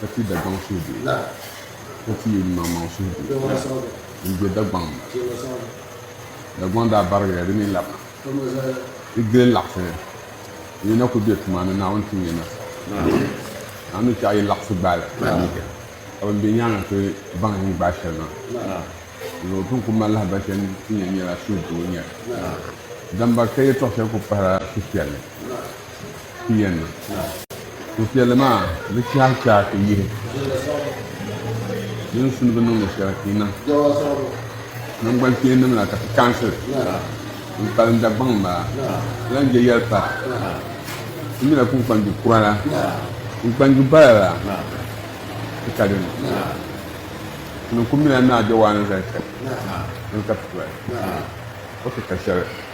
Ka ti Dagbaŋ suhudoo la, ka ti yi Nyumaŋmaŋ suhudoo la n-do Dagbaŋ ni na. Dagbaŋ daa barigiya di ni labina. Di gili laɣisi ni n yi na kul be tuma ni Naawuni ti nya nasara. Naawuni ni chɛɣi yi laɣisi gbaai li, ka bɛn be nyaaŋa ti baŋ yi ni gbaai shɛli maa. Dinzuɣu o tin ku mali lahibal shɛli n-ti nya nyɛla suhudoo n-nyɛ li. Dambakita yɛtɔɣ shɛli kul pahila suhupiɛlli. Pia ni. Suhupiɛlli maa bi chahi chahi ti yihi din suni bi niŋdi shɛli ti niŋ nangbani kpeenim la ka ti kaansi n kpalim Dagbaŋ maa ti lan je yɛli pa ti mi la kunkpanju kura la kunkpanju bala la ti ka dini ti ni ku mi la Naa Jawaana zali shɛli dini ka ti toli o ti ka shɛli.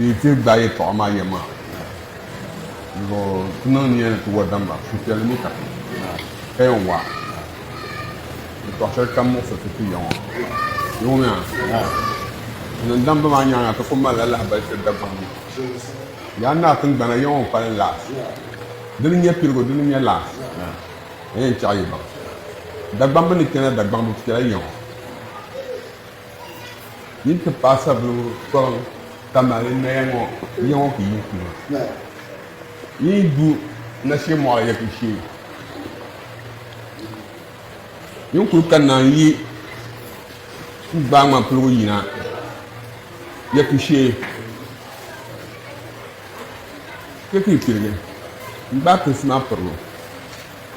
Yi ti gbaai yɛtɔɣa maa yɛm maa zuɣu, ti niŋ nia ni ti wa damba suhupiɛlli ni ka ti paya wa yɛtɔɣ shɛli kam muɣisiri ti ti ya ŋɔ. Yoomiya, ti niŋ damba maa nyaaŋa ti ku malila lahibali tiri Dagbaŋ ni. Yaa naa tiŋgbana ya ŋɔ pali laas. Di ni nya piligu, di ni nya laas, ka yɛn chaɣi yi baŋ. Dagbamb ni kpɛna Dagbaŋ bi piɛla ya ŋɔ. Yi ti paɣisaribila kɔrim ka mali noya ŋɔ ya ŋɔ ku yi ku ma. Yi yi du nashe mɔɣili ya ku shee. Yi kul ka naan yi ku gbaai ŋman piligu yina ya ku shee. Chɛ ka yi pirigi n-gbaai pilisi maa piribu.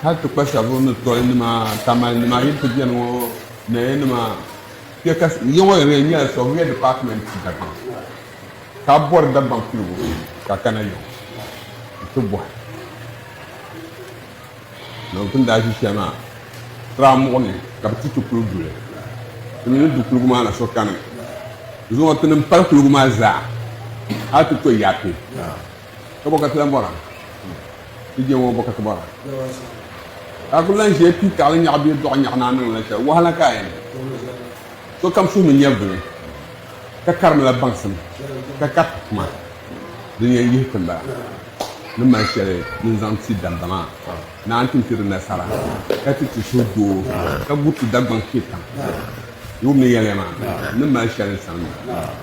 Hal ti kpa shɛba ni toli nima, Tamale nima yili ti beni ŋɔ, Naya nima kpe ka yi ŋɔ yɛn nyɛla Soviet Department Dagbaŋ ka bɔri Dagbaŋ piligu ka kana yiŋ n ti bɔhi noo ti ni daa ʒi shɛli maa Tra muɣu ni ka bi ti ti kuli duli ti mi ni du kuligu maa na so kani zuŋɔ ti ni pali kuligu maa zaa hal ti to Yapi. Ka bɔkati lan bɔra ti je ŋɔ bɔkati bɔra ka a kuli lan ʒiya pii taɣili nyaɣi bee dɔɣi nyaɣi ni a niŋ la shɛli wahala ka a yɛn niŋ sokam suhimi nyɛvili ka karimila baŋsim ka kariti tuma din yɛn yihi ti m-bala ni mali shɛli din zaŋ ti damba maa ni a ni tin ti di nasara ka ti ti suhu doo ka guri ti Dagbaŋ kpɛkam yom ni yɛliya maa ni mali shɛli n-sani maa.